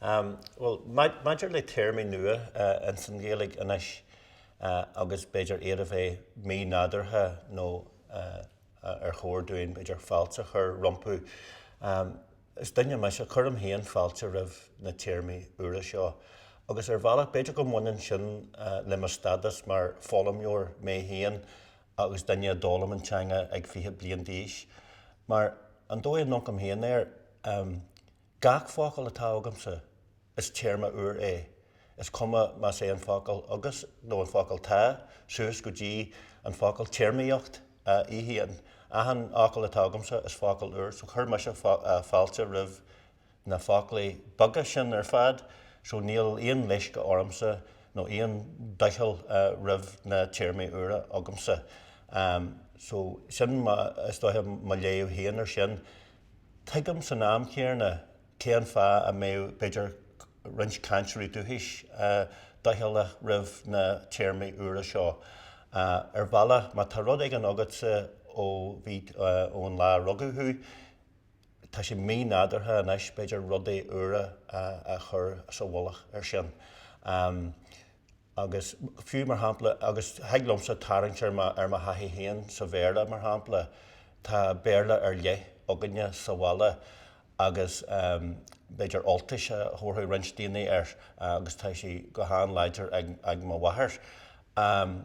Bhuel, maidir le téarmaí nua ins an Ghaeilge anois, agus b'fhéidir iad a bheith mí-nádúrtha nó ar chóir dúinn b'fhéidir fáilte a chur rompu, is duine mise, cuirim féin fáilte roimh na téarmaí úra seo. Agus ar bhealach, b'fhéidir go mbaineann sin le mo stádas mar foghlaimeoir mé féin agus duine a d'fhoghlaim an teanga ag fiche bliain d'aois. Mar, an dóigh a ndearcaim féin air, Gach focal atá agamsa, is téarma úr é, is cuma más é an focal 'agus' nó an focal 'tá', suas go dtí an focal 'téarmaíocht', a bhfuil a fhios agat. Achan fhocal dá bhfuil agamsa, is focal úr, so chuir mise fáilte roimh na foclaí beaga sin ar fad, so níl aon leisce ormsa nó aon doicheall roimh na téarmaí úra agamsa. So sin, is dóiche, mo léamh féin ar sin. Tuigim san am chéanna cé an fáth a mbeadh b'fhéidir roinnt cainteoirí dúchais doicheallach roimh na téarmaí úra seo. Ar bhealach, má tá rud éigin agatsa ó bhí, ón lá a rugadh thú, tá sé mí-nádúrtha anois b'fhéidir rudaí úra a chur sa mhullach ar sin. Agus fiú, mar shampla, agus thig liomsa tarraingt ar mo thaithí féin sa Bhéarla, mar shampla, tá Béarla ar leith againne sa bhaile agus b'fhéidir Ultais a thabharfadh roinnt daoine air agus tá sí go han-láidir ag mo mháthair. Ehm.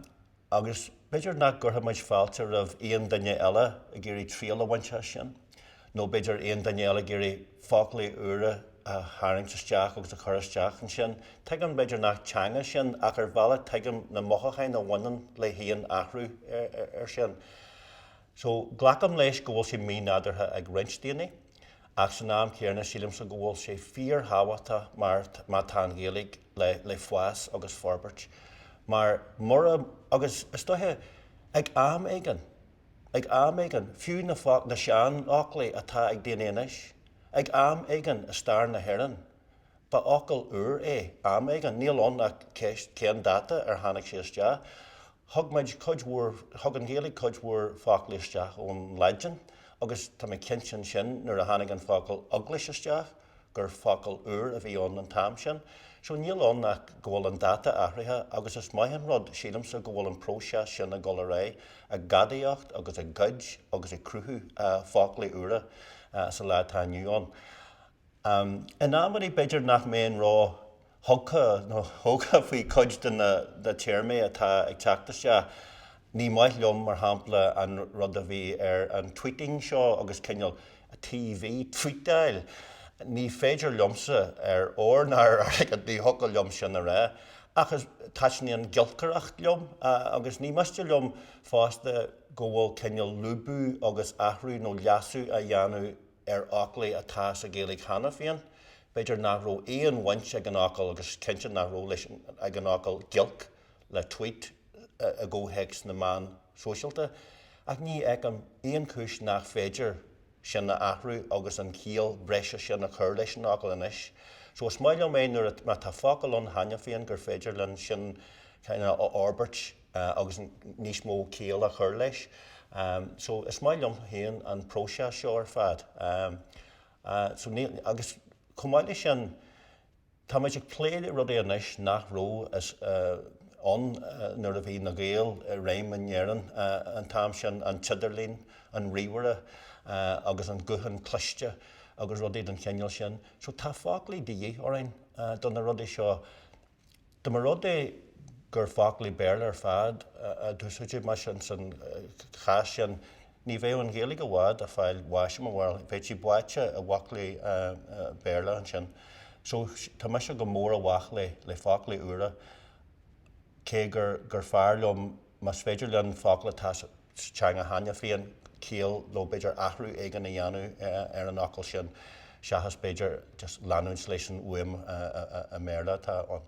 Agus b'fhéidir nach gcuirfeadh muid fáilte roimh aon duine eile ag iarraidh triail a bhaint as sin, nó b'fhéidir aon duine eile ag iarraidh foclaí úra a tharraingt isteach agus a chur isteach ansin. Tuigim b'fhéidir nach teanga sin ach ar bhealach tuigim na mothúcháin a bhaineann le haon athrú ar sin. So, glacaim leis go bhfuil sé mí-nádúrtha ag roinnt daoine, ach san am chéanna sílimse go bhfuil sé fíor-thábhachtach mar má tá an Ghaeilge, le fás agus forbairt. Mar mura, agus is dóiche ag am éigin, ag am éigin, fiú na na sean fhoclaí atá ag daoine anois, ag am éigin i stair na hÉireann, ba fhocal úr é am éigin, níl ann ach cén dáta ar tháinig sé isteach. Thug muid cuid mhór, thug an Ghaeilge cuid mhór foclaí isteach ón Laidin agus tá mé cinnte ansin nuair a tháinig an focal Eaglais isteach, gur focal úr a bhí ann an t-am sin. So níl ann ach go bhfuil an dáta athraithe agus is maith an rud, sílimse, go bhfuil an próiseas sin ag dul ar aghaidh, ag gadaíocht agus ag goid agus ag cruthú foclaí úra sa lá atá inniu ann. In amannaí b'fhéidir nach mbeinn ró. thugtha nó thógtha faoi chuid de na téarmaí atá ag teacht isteach. Ní maith liom, mar shampla, an rud a bhí ar an tweeting seo agus cineál tvuíteáil. Ní féidir liomsa, ar ór ná ar airgead, ní thiocfadh liom sin a rá. Ach is taitníonn giolcaireacht liom agus ní miste liom fosta go bhfuil cineál lúbadh agus athrú nó leasú á dhéanamh ar fhoclaí atá sa Ghaeilge cheana féin. B'fhéidir nach raibh aon bhaint ag an fhocal, agus is cinnte nach raibh leis, ag an fhocal giolc le tweet i gcomhthéacs na meán sóisialta, ach ní fheicim aon chúis nach féidir sin a athrú agus an chiall bhreise sin a chur leis an fhocal anois. So is maith liom é nuair, má tá focal ann cheana féin gur féidir linn sin cineál a fhorbairt. agus níos mó ciall a chur leis. So is maith liom féin an próiseas seo ar fad. So níl, agus chomh maith leis sin, táimid ag plé le rudaí anois nach raibh ann nuair a bhí na Gaeil i réim in Éirinn an t-am sin, an t-idirlíon, an ríomhaire agus an guthán cliste agus rudaí den chineál sin. So tá foclaí de dhith orainn do na rudaí seo. Dá mba rud é gur foclaí Béarla ar fad a d'úsáidfí mar sin san chás sin ní bheadh an Ghaeilge i bhfad ag fáil bháis i mo bharúil. Bheadh sí báite i bhfoclaí Béarla ansin. So tá mise go mór i bhfách le le foclaí úra cé gur gur fearr liom más féidir linn focal atá sa teanga cheana féin ciall nó b'fhéidir athrú éigin a dhéanamh ar an fhocal sin seachas b'fhéidir just leanúint leis an fhuaim i mBéarla atá ann.